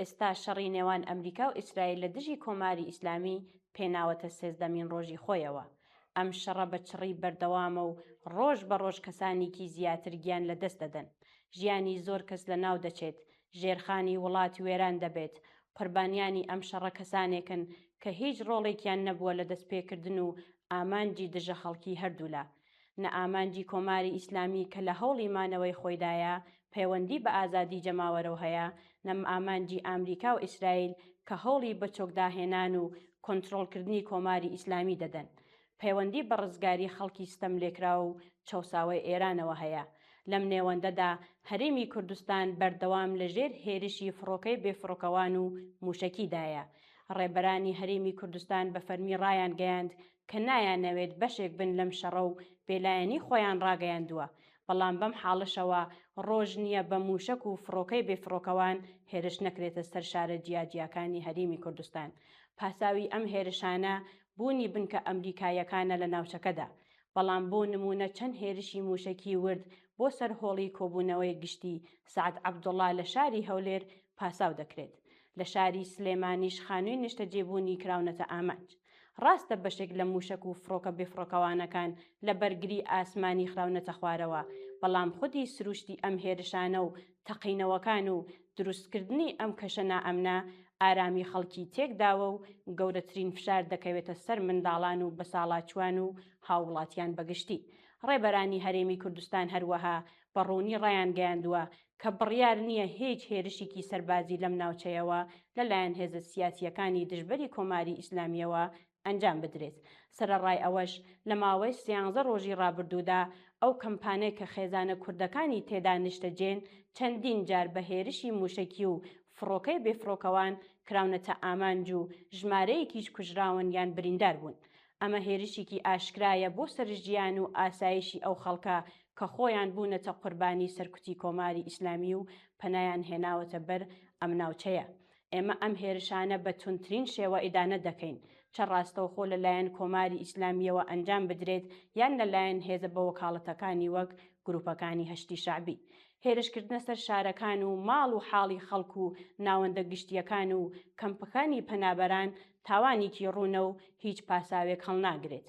ئێستا شەڕی نێوان ئەمریکا و ئیسرائیل لە دژی کۆماری ئیسلامی پێناوەتە سێزدەمین ڕۆژی خۆیەوە. ئەم شەڕە بە چڕی بەردەوامە و ڕۆژ بە ڕۆژ کەسانیکی زیاتر گیان لە دەست دەدەن. ژیانی زۆر کەس لە ناو دەچێت، ژێرخانی وڵات وێران دەبێت. قوربانیانی ئەم شەڕە کەسانێکن کە هیچ ڕۆڵێکیان نەبووە لە دەستپێکردن و ئامانجی دژە خەڵکی هەردوولا. نە ئامانجی کۆماری ئیسلامی کە لە هەوڵی مانەوەی خۆیدایە پەیوەندی بە ئازادی جەماوەرەو هەیە، نە ئامانجی ئامریکاو ئیسرائیل کە هەوڵی بەچۆک داهێنان و کۆنترۆڵ کردنی کۆماری ئیسلامی دەدەن، پەیوەندی بە ڕزگاری خەڵکی ستەم لێکراو و چەوساوەی ئێرانەوە هەیە. لەم نێوەندەدا هەرێمی کوردستان بەردەوام لە ژێر هێرشی فڕۆکەی بێفڕۆکەوان و موشەکیدایە. ڕێبەرانی هەرێمی کوردستان بە فەرمی ڕایانگەیاند کە نایانەوێت بەشێک بن لەم شەڕە و بێلایەنی خۆیان ڕاگەیاندووە، بەڵام بەم حاڵەشەوە ڕۆژ نییە بە مووشەک و فڕۆکەی بێفڕۆکەوان هێرش نەکرێتە سەر شارە جیاجیاکانی هەریمی کوردستان، پاساوی ئەم هێرشانە بوونی بنکە ئەمریکاییەکانە لە ناوچەکەدا، بەڵام بۆ نموونە چەند هێرشی مووشەکی ورد بۆ سەر هۆڵی کۆبوونەوەی گشتی سەعد عەبدوڵا لە شاری هەولێر پاساو دەکرێت، لە شاری سلێمانیش خانووی نیشتەجێبوونی کراونەتە ئامانج. ڕاستە بەشێک لە مووشەک و فڕۆکە بێفڕۆکەوانەکان لە بەرگری ئاسمانی خراونەتە خوارەوە، بەڵام خودی سرووشتی ئەم هێرشانە و تەقینەوەکان و دروستکردنی ئەم کەشە نائەمنە، ئارامی خەڵکی تێکداوە و گەورەترین فشار دەکەوێتە سەر منداڵان و بەساڵاچووان و هاووڵاتیان بەگشتی. ڕێبەرانی هەرێمی کوردستان هەروەها بە ڕوونی ڕایانگەیاندووە کە بڕیار نییە هیچ هێرشیکی سەربازی لەم ناوچەیەوە لەلایەن هێزە سیاسییەکانی دژبەری کۆماری ئیسلامییەوە ئەنجام بدرێت، سەرەڕای ئەوەش لە ماوەی سیانزە ڕۆژی ڕابردوودا ئەو کەمپانەی کە خێزانە کوردەکانی تێدا نیشتەجێن چەندین جار بە هێرشی مووشەکی و فڕۆکەی بێفڕۆکەوان کراونەتە ئامانج و ژمارەیەکیش کوژراون یان بریندار بوون. ئەمە هێرشیکی ئاشکرایە بۆ سەر ژیان و ئاسایشی ئەو خەڵکە کە خۆیان بوونەتە قوربانی سەرکوتی کۆماری ئیسلامی و پەنایان هێناوەتە بەر ئەم ناوچەیە. ئێمە ئەم هێرشانە بە توندترین شێوە ئیدانە دەکەین، چە ڕاستەوخۆ لە لایەن کۆماری ئیسلامییەوە ئەنجام بدرێت یان لە لایەن هێزە بەوەکاڵەتەکانی وەک گرووپەکانی هەشدی شەعبی. هێرشکردنە سەر شارەکان و ماڵ و حاڵی خەڵک و ناوەندە گشتییەکان و کەمپەکانی پەنابەران تاوانێکی ڕوونە و هیچ پاساوێک هەڵناگرێت.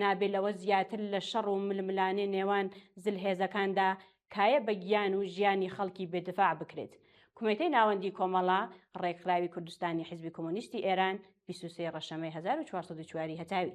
نابێ لەوە زیاتر لە شەڕ و ململانێ نێوان زلهێزەکاندا کایە بە گیان و ژیانی خەڵکی بێ دفاع بکرێت. کومێتەی ناوەندی کۆمەڵە ڕێکخراوی کوردستانی حیزبی کۆمۆنیستی ئێران، بیست و سێ ڕەشەمەی هەزار و چوار سەد و چوار ی هەتاوی.